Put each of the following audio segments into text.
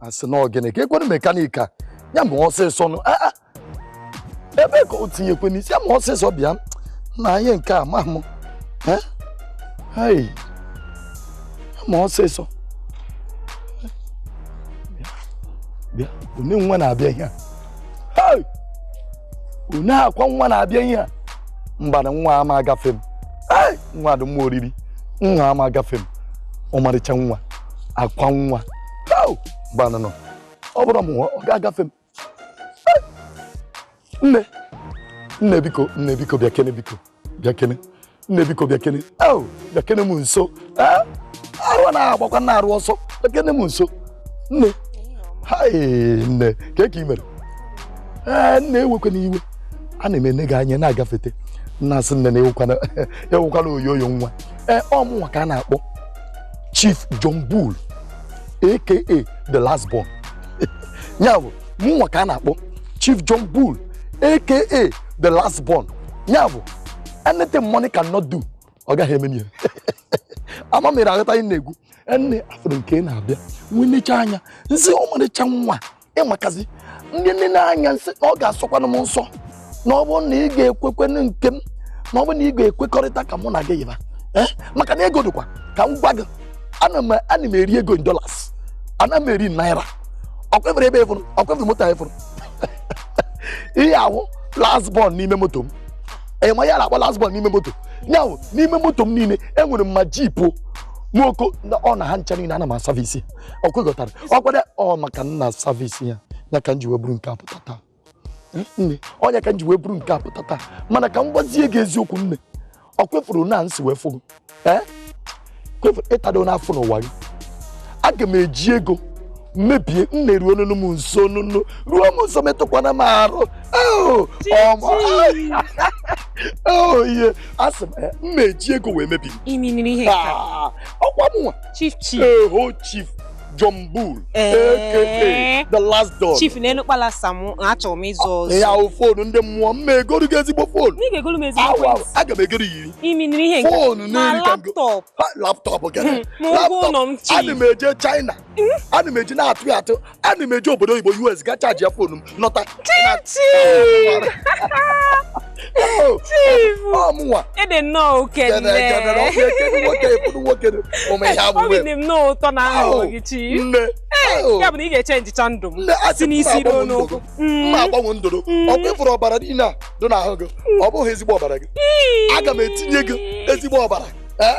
asị na ọ gịnị ka ekwere mekanik a ya ma ọsịsọ nụ Ah, ah. ebe ka o tinyekwe n'isi ya ma ọsịsọ bịa na ihe nke a ma mụ Eh? Hai. Ya ma ọsịsọ bịa bịa onye nwa na-abịa ihe a onye akwa nwa na-abịa ihe a mbanụ nwa ama agafe m nwa dị mma oriri nwa ama agafe m ọmarịcha nwa akwa nwa mbanụ ọ bụrụ m ọ ga-agafe m nne nne biko nne biko bịakene biko bịakene nne biko bịakene oh, bịakene m nso eh? arụ na-agbakwa na arụ ọsọ bịakene m nso nne nne ka ka ị mere ee eh, nne ewekwana iwe ana m ene gị anya na-agafete nna asị nne anwụkwana oyoyo nwa ee eh, ọ mụnwa ka a na-akpọ Chief John Bull aka the last born ya bụ mụnwa ka a na-akpọ chief john bull aka the last born ya bụ anything money cannot do ọ gaghị eme ihe ama m ị na-aghọta ihe m na-ekwu nne afụrụ m ka ị na-abịa m wee nechaa anya m sị ọmarịcha nwa ị makazi ndị nne n'anya m sị na ọ ga-asọkwanụ m ụsọ na ọ bụrụ na ị ga-ekwekwenụ nke m na ọ bụrụ na ị ga-ekwekọrịta ka mụ na gị yiba eh? maka na ego dịkwa ka m gwa gị ana m eri ego in dollars ana m eri naira ọkwa ị fụrụ ebe ị fụrụ ọkwa ị fụrụ moto a ị fụrụ ihe a wụ last born n'ime moto m ị ma ihe a na-akpọ last born n'ime moto nya wụ n'ime moto m niile enwere m Hummer jeep nwoko ọ na ha ncha niile ana m asavisi ọkwa ị ghọtara ọ kwere ọ maka m na-asavisi ya ya ka m ji wee buru nke a pụta taa nne ọ nya ka m ji wee buru nke a pụta taa mana ka m gwazie gị eziokwu nne ọkwa ị fụrụ na m si wee fụ gị ọkwa ị fụrụ ịtado n'afọ n'ụwa gị aga m eji ego mebie nne ruo nunu m nso nunu ruo m nso metụkwana m arụ ihe asị m eh, mma eji ego wee mebi ah, ọkwa mụnwa chief chief John Bull aka the last born chief nee nụ kpalasa m achọrọ m ịzụ ọzọ ya bụ foonu ndị mmụọ mma egoro gị ezigbo foonu ị ga-egoro m ezigbo foonu aga m egoro yiri imi nri ihe foonu na laptọp laptọp gịnị laptọp ana m eje China hmm? ana m eje na-atụ ya atụ ana m eje obodo oyibo US ga chaji ya foonu m nọta ọ mụnwa ị dị nnọọ obi dị m nnọọ ụtọ na ahụ gị chi nne ya bụ na ị ga-echenjicha ndụ m si n'isi ruo n'ụkwụ mma agbanwe ndụrụ ọkwa ị fụrụ ọbara niile a dị n'ahụ gị ọ bụghị ezigbo ọbara gị aga m etinye gị ezigbo ọbara Eh?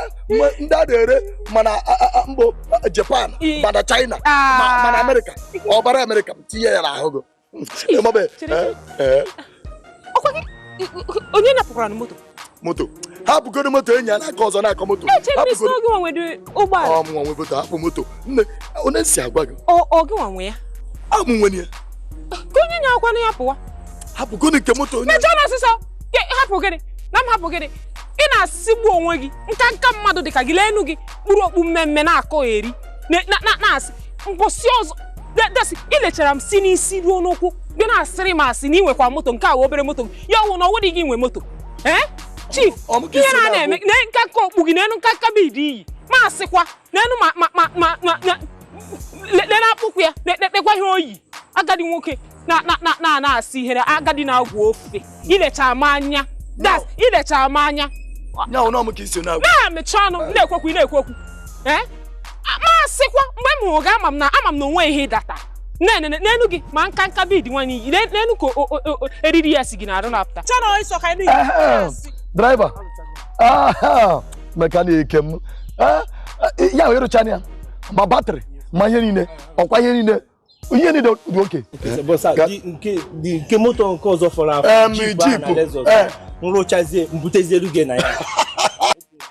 ndị a na-ere ma na mba Japan ma na China ma na Amerịka ọbara Amerịka tinye ya n'ahụ gị onye napụkwara na moto moto hapụgoro moto enyi ya n'aka ọzọ na-akọ moto ọ mụnwa nwe moto hapụ moto nne onye si agwa gị ọ gịnwa nwe ya a mụ nwenụ ya ka onye nyakwana ya pụwa hapụgoro nke moto onye mechaa na ọsịsọ hapụ gịnị na m hapụ gịnị ị na-asịgbu onwe gị nka nka mmadụ dị ka gị leenụ gị kpuru okpu mmemme na-akọ eri na-asị mbọsị ọzọ desi i lechara m si n'isi ruo n'ụkwụ gị na-asịrị m asị na ị nwekwa moto nke a wụ obere moto ya ọ wụ na ọ wụdị gị nwe moto ee chief ihe na na-eme na nka nka okpu gị n'elu nka nka bead i yi ma asịkwa n'olu ma ma ma ma na-akpụkwa ya na-ekpekwa ihe o yi agadi nwoke na-asị ihere agadi na-agwọ ofe i lecha m anya das i lecha m anya na-emechi ọnụ na-ekwu okwu na-ekwu okwu eh? masịkwa mgbe m hụrụ gị ama m na ama m na o nwe ihe data n'elu gị ma nka nka bead nwanyị i yi n'olu ka eriri ya si gị n'arụ na-apụta driver mechanic m ya ị rụchana ya ma battery ma ihe niile ọkwa ihe niile ihe niile dị okay nke moto nke ọzọ fọrọ afọ Jeep eh. m rụchazie m butezie ruge na ya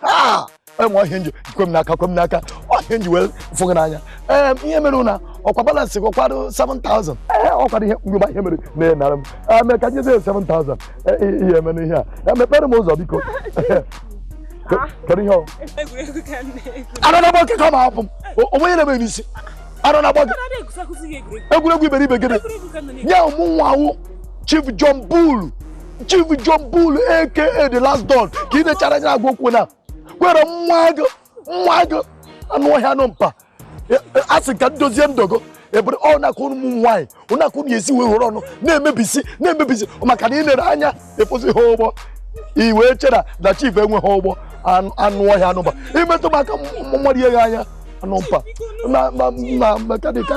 ah! enwe ọhịa nji kwe m n'aka kwe m n'aka ọ ihe a m ji wee fụ gị n'anya ee ihe mere na ọkwa balance gị kwado 7000 ee ọkwado ihe mgbe ihe mere na-enara m eme ka nyezi 7000 ihe eme n'ihe a mepere m ụzọ biko kedu ihe ọ anọ na m okeke ọ ma hapụ m o nwe ihe na-eme n'isi ara na-agba gị egwuregwu iberibe gịnị nye mụnwa wụ Chief John Bull Chief John Bull aka the last don ka ị na-achara anya agwa okwu na kwere nwa agụ nwa agụ anụ ọhịa anụ mpama a sị ka ndozie ndogo ebere ọ na-akụ ụmụ nwaanyị ọ na-akụ na esi wee ghọrọ ọnụ na-emebisi na-emebisi maka na ị nere anya ịkwụsị ha ụgbọ i wee chere na chief enweghị ụgbọ anụ ọhịa anụba i metụ m aka mmadụ ihe gị anya anụ mpama mechanic ka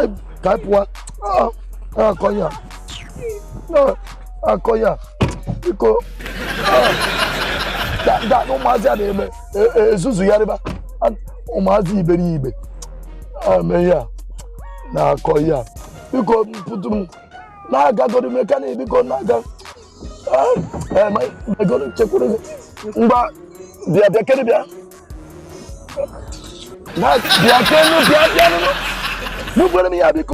anyị pụwa akọ ya akọ ya biko da ụmụazị a na-eme e, e, nzuzu ya rịba ụmụazị iberibe ame ya na-akọ ya biko pụtụ m na-agagoro mekanik biko na-aga megoro chekwuru gị ngwa bịa bịa kene bịa bịa kenụ bịa bịa nụnụ n'ugbere m ya biko